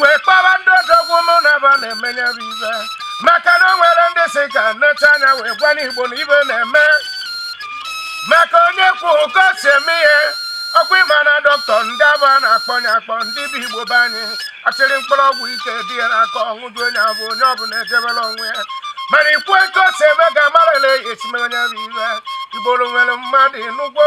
wee kpọba ndị odogwu mụ na ba na-eme ya bụ ibe maka na o nwere ndị sị ka m neta anya wee gwa ndị igbo na ibe na-eme maka onye kwuo ka o si eme ihe ọkwa ịma na dọkịta ndị abụ a na-akpọ ya akpọ ndị bụ igbo be anyị achịrị mkpụrụ ọgwụ ike dị ya n'aka ọṅụju onye abụ onye ọbụla ejebere onwe ya mana ikwu etu o si eme ka amarala eyi esimere onye bụ ibe igboro nwere mmadụ ị nụgo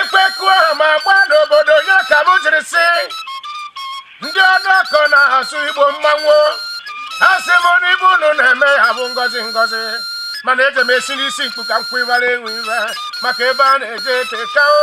ekwe kụa ama gbaa n'obodo ya ka m jiri sị ndị ọnụ ọkọ na-asụ igbo mmanwụ asị m na ibe unu na-eme ya bụ ngọzi ngọzi mana eji m esi n'isi mkpu ka m kwụ ịbara enwe ibe maka ebe a na-eje eteka o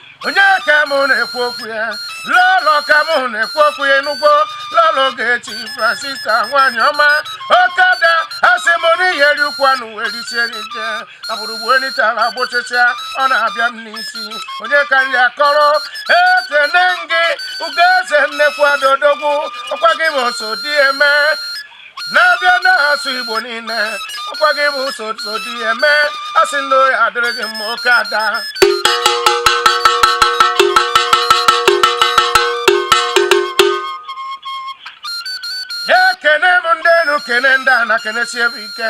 onye ka mụ na-ekwu okwu ya lọlọ ka mụ na-ekwu okwu ya ị nụgo lọlọ ọgechi francisca nwaanyị ọma oke ada asị m na ị ya-eri ụkwụ anụ wee risie n'ike agbụrụgbu enitala gbụchịchịa ọ na-abịa m n'isi onye ka m ya-akọrọ ekene m gị ugoeze nnekwu ada odogwu ọkwa gị bụ osodieme n'ebe na-asụ igbo niile ọkwa gị bụ osodieme asị na ọ ya-adịrị gị mma oke ada ekene m ndị enu kene ndị ana kenesie ba ike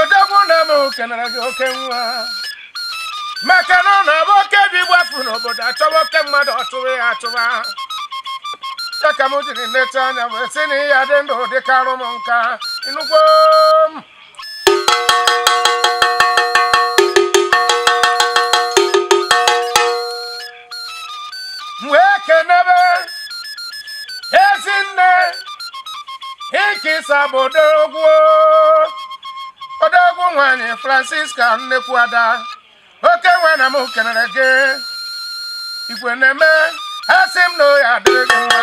odogwu na m kenere gị oke nwa maka na ọ na-abụ oke ibe gbapụ n'obodo achọwa oke mmadụ achọwa ya achọwa ya ka m jiri neta anya wee sị na ị ya-adị ndụ dị ka arụ m nka ị nụgo m wee kenebe ezinne ikisa bụ odogwu odogwu nwanyị francisca nnekwu ada oke nwa na m kenere gị igwe na-eme asị m na ọ ya-adịrị gị mma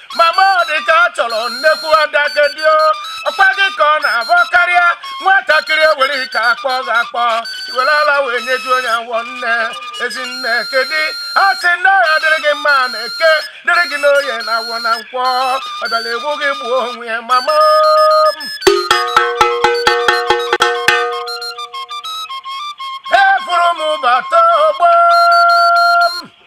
mama ọ dị ka ọ chọrọ nnekwu ada kedi o ọkwa gị ka ọ na-abụ ọ karịa nwatakịrị ewere ike akpọ gị akpọ i were ala wee nyejuo ya awọ nne ezi nne kedu a sị na ọ ya-adịrị gị mma na eke dịrị gị n'oye na awọ na nkwọ ọ bịara egbu gị gbuo onwe ya mama m efuru m bata ogbo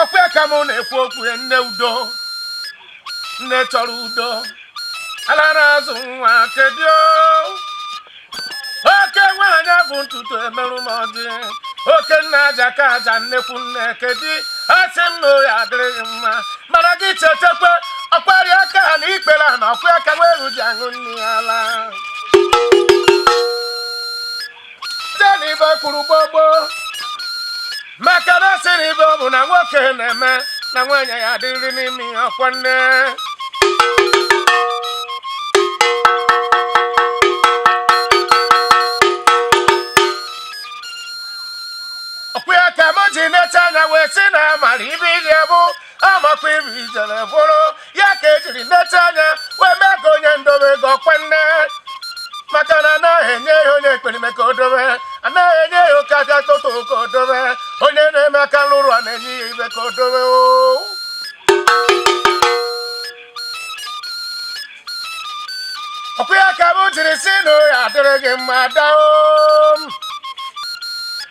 ọkwa ya ka mụ na-ekwu okwu ya nne udo nne chọrọ udo ala na-azụ nwa kedu oke nwaanyị bụ ntutu emerụ m ọjị oke nna aja ka aja nnekwu nne kedu asị m na ọ ya-adịrị gị mma mana gị chetakwa ọkwarị aka ana ikpere ana ọkwa ya ka nwa eghu ji aṅụ nne ya ala tena ibe kwuru gbogbo maka na asị na ive ọbụna nwoke na-eme na nwaanyị ya-adịrị n'ime ya ọkwa nne ọkwa ya ka m ji neta anya wee sị na amara ive ihe bụ amakwa iru ijele bụrụ ya ka ejiri neta anya wee mee ka onye ndobe ego oke nne maka na anaghị enye ya onye ekperima ka o dobe anaghị enye ya oke aja toto ka o dobe onye na-eme aka nrụrụ a na-enye ya ive ka o dobe o ọkwa ya ka m jiri si na ya adịrị gị mma daalụ o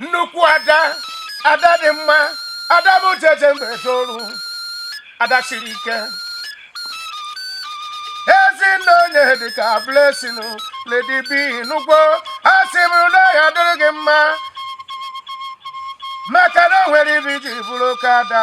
nnukwu ada ada dị mma ada m ji eje mba toru ada siri ike ezinne onye dịka blessing lady b n'ugbo a sị m na ọ ya-adịrị gị mma maka na o nwere ive i ji bụrụ oke ada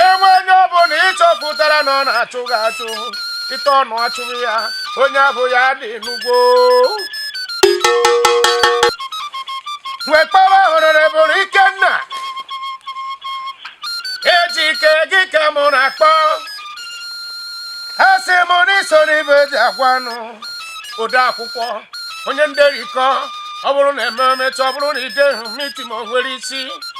e nwee onye ọ bụla ịchọpụtara na ọ na-achụ gị achụ ịta ọnụ achụghị ya onye abụ ya dị n'ugbo wee kpọwa honorable ikenna ejike gị ka mụ na-akpọ asị m na i so n'ive eji agwa anụ ode akwụkwọ onye nderikọ ọ bụrụ na ememe emecha ọ bụrụ na idehụ meeting o nwerọ isi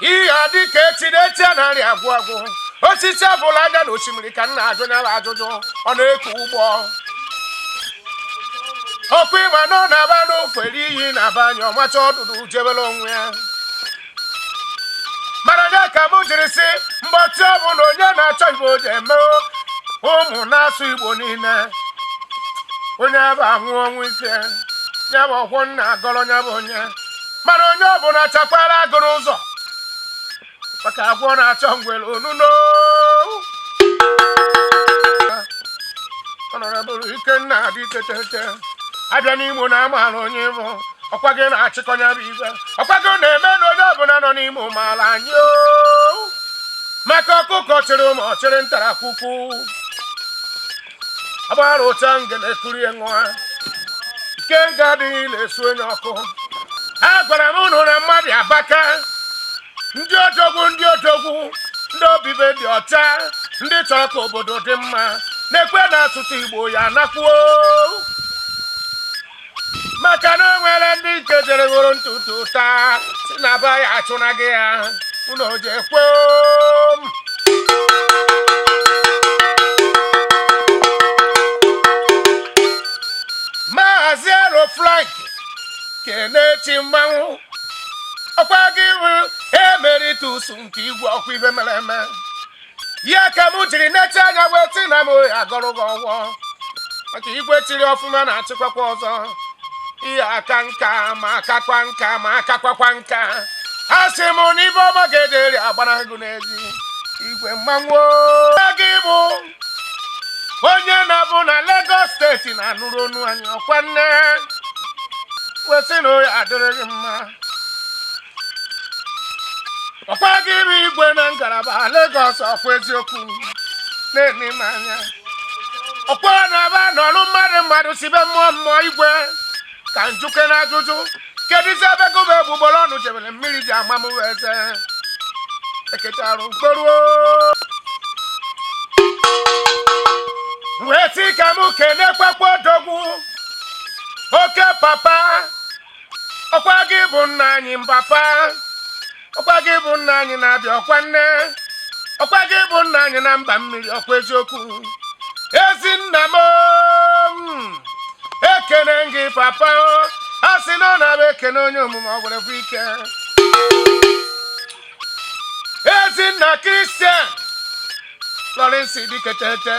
ihe a dị ka echi na echi anaghị agwụ agwụ osisi abụla anya na osimiri ka nna ajụ nyala ajụjụ ọ na-eku ụgbọ ọkụ ịma na ọ na-aba n'ofere iyi na-aba anya ọmacha ọdụdụ jebere onwe ya mana ya ka m jiri sị mgbatị ọ bụ na onye na-achọ igbo ji eme ụmụ na-asụ igbo niile onye bụ anwụ ọnwụ ike ya bụ ọkwọ nna agọrọ ya bụ onye mana onye ọbụla chakwara agụ n'ụzọ maka agwọ na-achọ ngwere onuno honorable ikenna adị tetete a bịa n'imo na amaala onye ị bụ ọkwa gị na-achịkọ nya bụ ive ọkwa gị na-eme na onye ọbụla nọ n'imo maala anyị oo. maka ọkụkọ chịrị ụmụ ọ chịrị ntarakwukwu agbara ụta ngene kurie nwa ikenga adịghị ile e sunye ọkụ a gwara m ụnụ na mmadụ abaka ndị odogwu ndị odogwu ndị obi be dị ọcha ndị chọrọ ka obodo dị mma na-ekwe na asụsụ igbo ya anakwuo maka na o nwere ndị nke jere ghoro ntutu taa si na be ya achụna gị ya unu oje kwoo m maazị ero frank kenechi mmanwụ ọkwa gị bụ emeritus nke igwe ọkwa ibe mere eme ya ka m jiri nete anya wee sị na m agọrọ gị ọfọ maka igwe chịrị ọfụma na-achịkwakwa ọzọ ị ya-aka nka ma akakwa nka ma akakwakwa nka a sị m na ibe ọma ga-ederi agbara gị n'ezi igwe mmanwụ gị bụ onye na-abụ na Lagos steeti na-anụrụ onu anyị ọkwa nne wee sị na ọ ya-adịrị gị mma ọkwa gị bụ igwe na ngalaba Lagos ọkwa eziokwu na-eme m anya ọkwa na ebe a nọrụ mmadụ mmadụ si be mmụọ mmụọ igwe ka m jụkene ajụjụ kedụzi ebe gụba egbugbere ọnụ jebere mmiri ji ama m wee eze eketarụ mkporuo wee sị ka m kene kpakpọ odogwu oke papa ọkwa gị bụ nna anyị mbapa ọkwa gị bụ nna anyị na abịa ọkwa nne ọkwa gị bụ nna anyị na mba mmiri ọkwa eziokwu ezi nna m o ekene m gị papa o a sị na ọ na-abụ e kene onye omume ọ gwere bụ ike ezi nna kristian lọrịnsị dịketete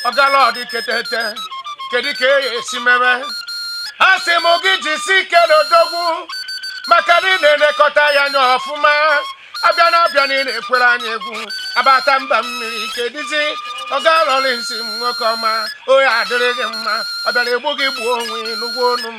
ọga lọ dịketete kedu ka e esi mebe a sị m gị jisi ike n'odogwu maka na ị na-elekọta ya anya ọfụma abịa na abịa na ị na-ekwere anyị egwu a bata mba mmiri kedụzi ọga lọrịnsị m nwoke ọma ọ ya-adịrị gị mma ọ bịara egbu gị gbuo onwe nụgo onu m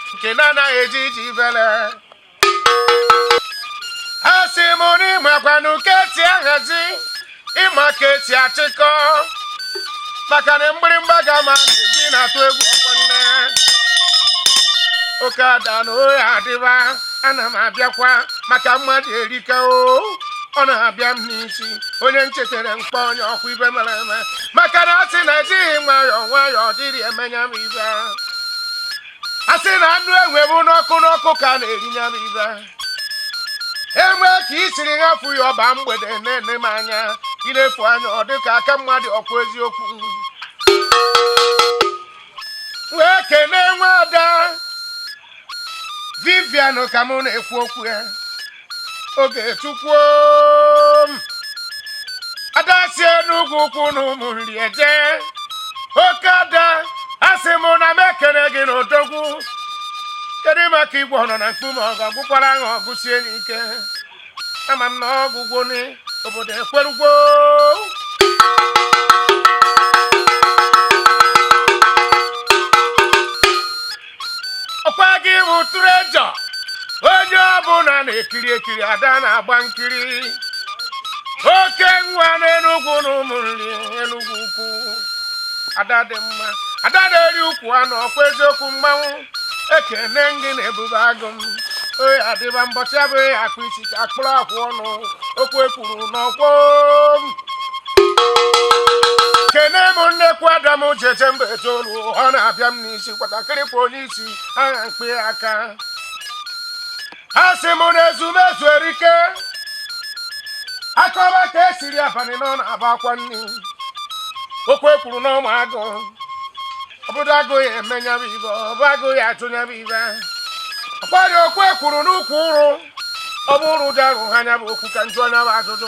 nke na-anaghị eji iji vele a sị m na ị makwanụ ka esi ahazi ị ma ka esi achịkọ maka na mgbịrịmgba ga-ama na-eji na-atụ egwu ọkwa nne oke ada na ọ ya-adịba ana m abịakwa maka mmadụ erika o ọ na-abịa m n'isi onye nchetere mkpa onye ọkwa ibe mere eme maka na ọ sị na ejighị nwayọọ nwayọọ dịrị emenya m ibe a sị na anụ enwe bụ n'ọkụ n'ọkụ ka a na-eri ya bụ ibe enwe ka i siri ṅafụ ya ọ baa mgbede na-ene m anya ị na-efu anya ọ dị ka aka mmadụ ọkwa eziokwu wee kenee nwada vivian ka mụ na-ekwu okwu ya ogechukwu ada si enugwu ukwu na ụmụnri eje oke ada a sị m na m ekele gị na odogwu kedu maka igwe ọnọ na mkpume ọgụ agwụkwara ahụ ọgụsie n'ike ama m na ọgwụgwụ ni obodo ekwerugwo ọkwa gị bụ treasure onye ọbụla na-ekiri ekiri ada na-agba nkiri oke nwa n'enugwu na ụmụnri enugwu ukwu ada dị mma ada na-eri ukwu anụ ọkwa eziokwu mmanwụ ekene ngị na ebube agụ m oyi adịba mbọchị abụghị akpa isi ka a kpụrụ akwụ ọnụ okwu e kwuru n'ọkwọ m kene m nnekwu adam jeje mba etoolu ọ na-abịa m n'ihu isi kwatakịrị kwa onye isi agha mkpe aka a sị m na ezumezu erika akọba ka e siri abalị nọ na aba akwa nri okwu e kwuru na ọma agụ obodo agụ ya eme nyabụ ibe ọbụ agụ ya atụ nyabụ ibe ọkwarị okwu e kwuru n'ukwu ụrụ ọ bụ ụrụ dị arụ ha nyabụ okwu ka m jụa nyabụ ajụjụ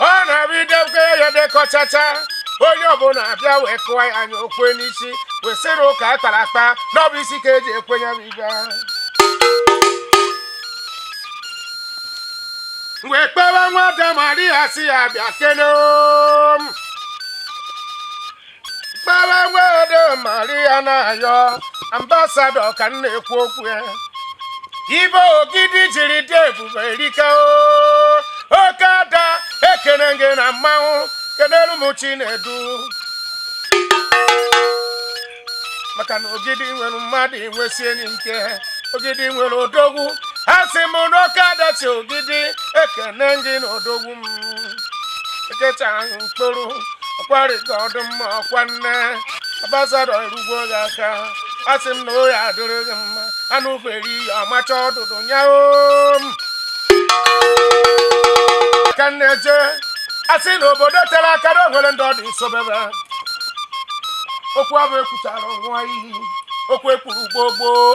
ọ na-abịa idebe ya dekọchacha onye ọbụla abịa wee kụọ ya anya o kwe n'isi wee sị na ụka a kpara akpa na ọ bụ isi ka e ji ekwe ya bụ ibe wee kpewe nwada maria sị ya bịa kene m gbalawede maria na-ayọ ambassador ka m na-ekwu okwu ya ibe ogidi jiri dị ebube erika o oke ada ekene gị na mmanwụ kenelu m chinedu maka na ogidi nwere mmadụ enwesi enyi nke ogidi nwere odogwu a sị m na oke ada si ogidi ekene gị na odogwu nkịta ahụ mkpụrụ ọkwarịta ọdụ mma ọkwa nne ambassador erugbo gị aka a sị m na ọ ya-adịrị gị mma anụ feri ya ọmacha ọdụdụ nyaho m ka m na-eje a sị na obodo tere aka na o nwere ndị ọ dị nsobebe okwu abụ ekwuchara nwa iyi okwu e kwuru gboo gboo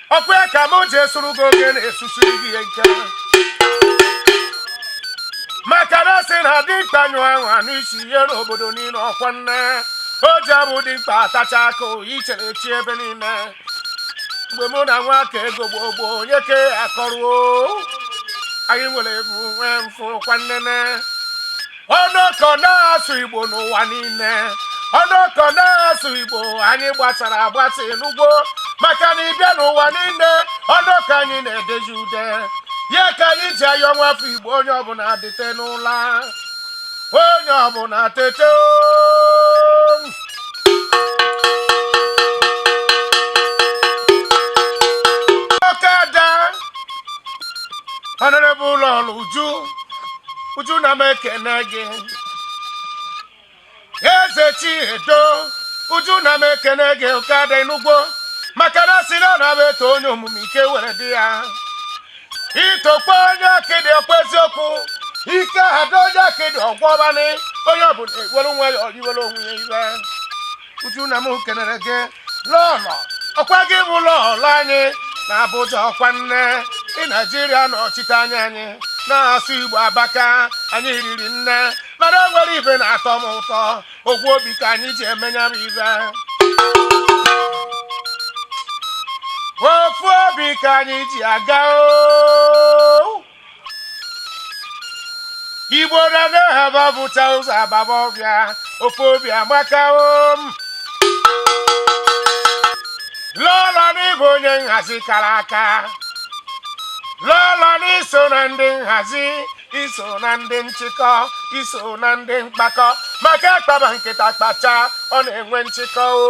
ọkwa ya ka m ji esuru gị oge na-esusu gị ihe nke maka na a sị na dimkpa nyụ anwa n'isi ihe n'obodo niile ọkwa nne o ji abụ dimkpa atacha akụ ichere echi ebe niile mgbe mụ na nwa ka ego gboo gboo onye ke akọruo anyị nwere ebu nwee mfu kwa nnene ọnọkọ na-asụ igbo n'ụwa niile ọnọkọ na-asụ igbo anyị gbasara agbasa ị nụgo maka na ị bịa n'ụwa niile ọnọkọ anyị na-edezi ude ya ka anyị ji ayọ nwa afọ igbo onye ọbụla tete n'ụla onye ọbụla tete oo. oke ada ọnọdụ bụ lọlọ uju uju ana m ekene gị eze chiedo uju ana m ekene gị oke ada enugwu maka na sịla na e too onye omume ike were dị ya i tokwa onye akịdị ọkwa eziokwu ike ada onye akịdị ọ gwọba nị onye ọbụla ewere nwa ya ọriwere onwe ya iwe uju na m kenere gị lọlọ ọkwa gị bụ lọlọ anyị na abụja ọkwa nne ị naijiria nọchite anya anyị na-asụ igbo aba ka anyị riri nne mana o nwere ife na-atọ m ụtọ ofu obi ka anyị ji eme nya bụ ife ofu obi ka anyị ji aga o igbo rana ha babụcha ụzọ agbaba ọfịa ofu obi amaka o lọlọ na ị bụ onye nhazi kara aka lọlọ na i so na ndị nhazi i so na ndị nchịkọ i so na ndị mkpakọ maka a kpaba nkata kpachaa ọ na-enwe nchịkọ o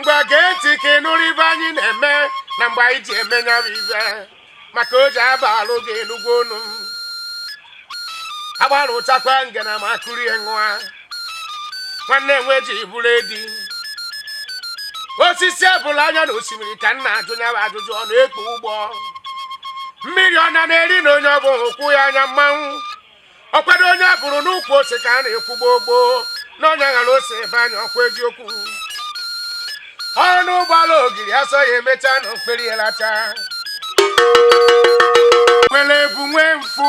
ngwa gee ntị ka ị nụrụ ife anyị na-eme na mgbe anyị ji eme ya bụ ife maka o ji aba alụ gị enugwu unu agbalụ chakwa ngana ma akụrie nwa nwanne enwe ji bụrụ edi osisi ebụla anya na osimiri ka m na-ajụ ya bụ ajụjụ ọ na-ekpo ụgbọ mmiri ọ na na-eri na onye ọ bụ ụkwụ ya anya mmanwụ ọkwado onye a fụrụ n'ukwu ose ka a na-ekwu gboo gboo na onye ghọrọ ose ebe anya ọkwa eziokwu ọnụ gbala ogiri ọsọ ya emechaa na okpei ya lacha nwere ebu nwee mfu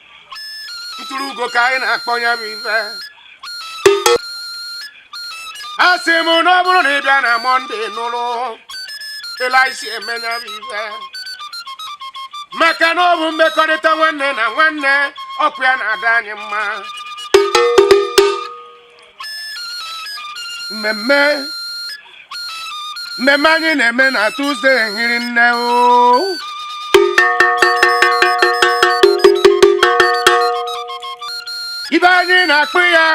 ntụrụ ugo ka anyị na-akpọ ya bụ ife a sị m na ọ bụrụ na ị bịa na mọnde nụrụ ele anyị si eme ya bụ ife maka na ọ bụ mmekọrịta nwanne na nwanne okwu ya na-adị anyị mma mmemme mmemme anyị na-eme na tuzde hiri nne o ibe anyị na-akpọ ya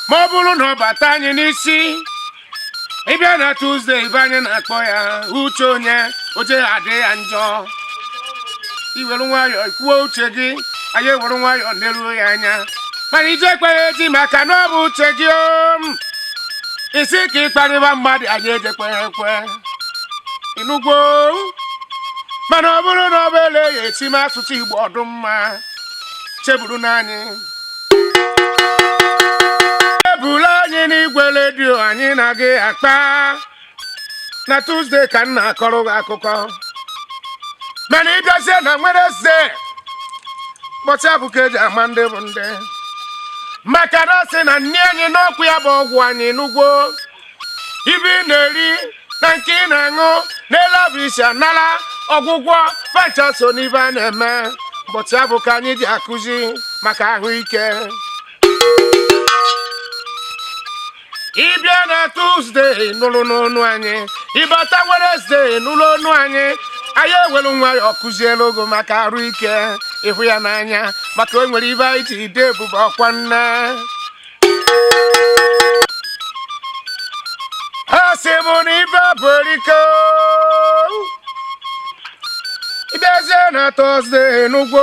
ma ọ bụrụ na ọ bata anyị n'isi ịbịa na tuzde ibe anyị na-akpọ ya uche onye o jeghị adị ya njọ i were nwayọọ kwuo uche gị anyị ewere nwayọọ neruo ya anya mana i jekweghị eji maka na ọ bụ uche gị o ị sị ka ị kparịba mmadụ anyị ejekweghị ekwe ị nụgwo mana ọ bụrụ na ọ bụ ele ya esi m asụsụ igbo ọ dị mma cheburu n'anyị ebula anyị n'igwe redio anyị na gị akpa na tuzdee ka m na-akọrọ gị akụkọ mana ị bịazie na wenesde ụbọchị abụ ka eji ama ndị bụ ndị maka na sị na nni anyị n'okwu ya bụ ọgwụ anyị nụgwo ibe ị na-eri na nke ị na-aṅụ na ele ọ bụ i si anara ọgwụgwọ va ncha so n'ibe a na-eme ụbọchị abụ ka anyị ji akụzi maka ahụike ị bịa na tuzde nụrụ n'onu anyị ị bata wenesde nụrụ onu anyị anyị ewelu nwayọọ kuzielu gị o maka arụ ike ịhụ ya n'anya maka o nwere ibe anyị ji ide ebube ọkwa nne ha si bụ na ibe bụ erike ị bịazie na tọzde n'ugbo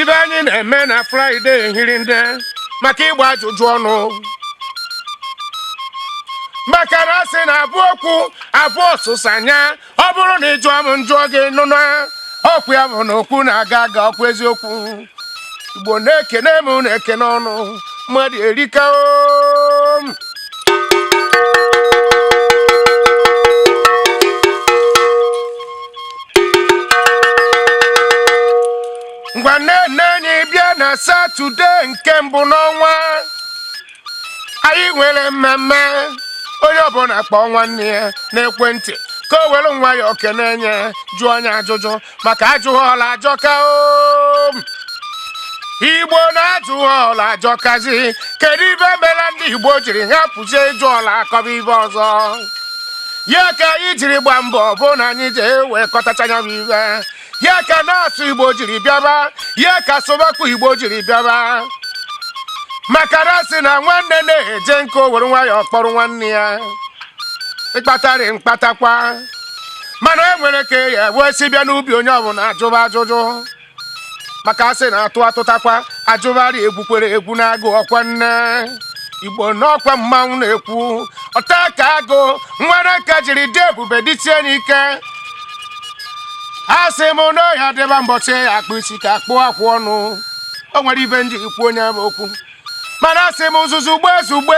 ibe anyị na-eme na fraịde hiri nne maka ịgba ajụjụ ọnụ maka na asị na abụ okwu abụ ọsụsa anya ọ bụrụ na ị jụọ m m jụọ gị nụ na okwu ya bụ na okwu na-aga aga okwu eziokwu igbo na-ekene m unu ekene unu mmadụ erika o ngwanụ na anyị bịa na satọde nke mbụ n'ọnwa anyị nwere mmemme onye ọbụla kpọọ nwanne ya n'ekwentị ka o were nwayọọ kene onye jụọ onye ajụjụ maka ajụghị ọla ajọka o igbo na ajụghị ọla ajọkazi kedu ibe mere ndị igbo jiri hapụzie ịjụ ọla akọba ibe ọzọ ya ka anyị jiri gba mbọ bụ na anyị ji ewekọtacha ya bụ ibe ya ka na-asụ igbo jiri bịaba ya ka sụbakwa igbo jiri bịaba maka na a sị na nwanne na-eje nke o were nwayọ kpọrọ nwanne ya ịkpatarị mkpatakwa mana e nwere ka ya wee si bịa n'ubi onye ọbụla ajụba ajụjụ maka a sị na atụ atụtakwa ajụgharị egwukwere egwu na-agụ ọkwa nne igbo n'ọkwa mmanwụ na-ekwu ọtaka agụ nwere ka o jiri dị ebube dịtie n'ike asị m na ọ ya-adịba mbọchị a kpụ isi ka a kpụ akwụ ọnụ o nwere ibe m ji ekwu nya bụ okwu mana asị m zuzugbe zugbe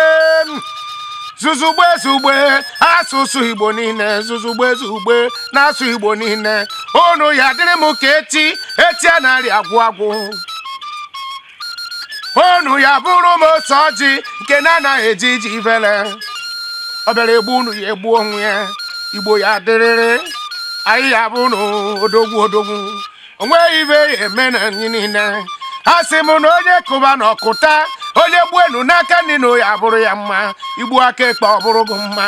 zuzugbe zugbe asụsụ igbo niile zuzugbe zugbe na-asụ igbo niile unu ya-adịrị m ka eti eti anarị agwụ agwụ unu ya-abụrụ m otu ọjị nke na-anaghị eji iji vele ọ bịara egbu unu ya egbu onwe ya igbo ya-adịrịrị anyị ya bụ unu odogwu odogwu o nweghị ibe ya-eme na anyị niile a sị m na onye kụba na ọ kụta onye gbuenu n'aka nri na ya bụrụ ya mma i gbuo aka ekpe ọ bụrụ gị mma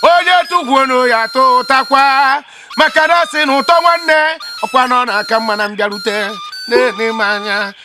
onye tụgwuonu ya tụtakwa maka na a sị na ụtọ nwanne ọ kwa na ọ na-aka mma na mbịarute na-enye m anya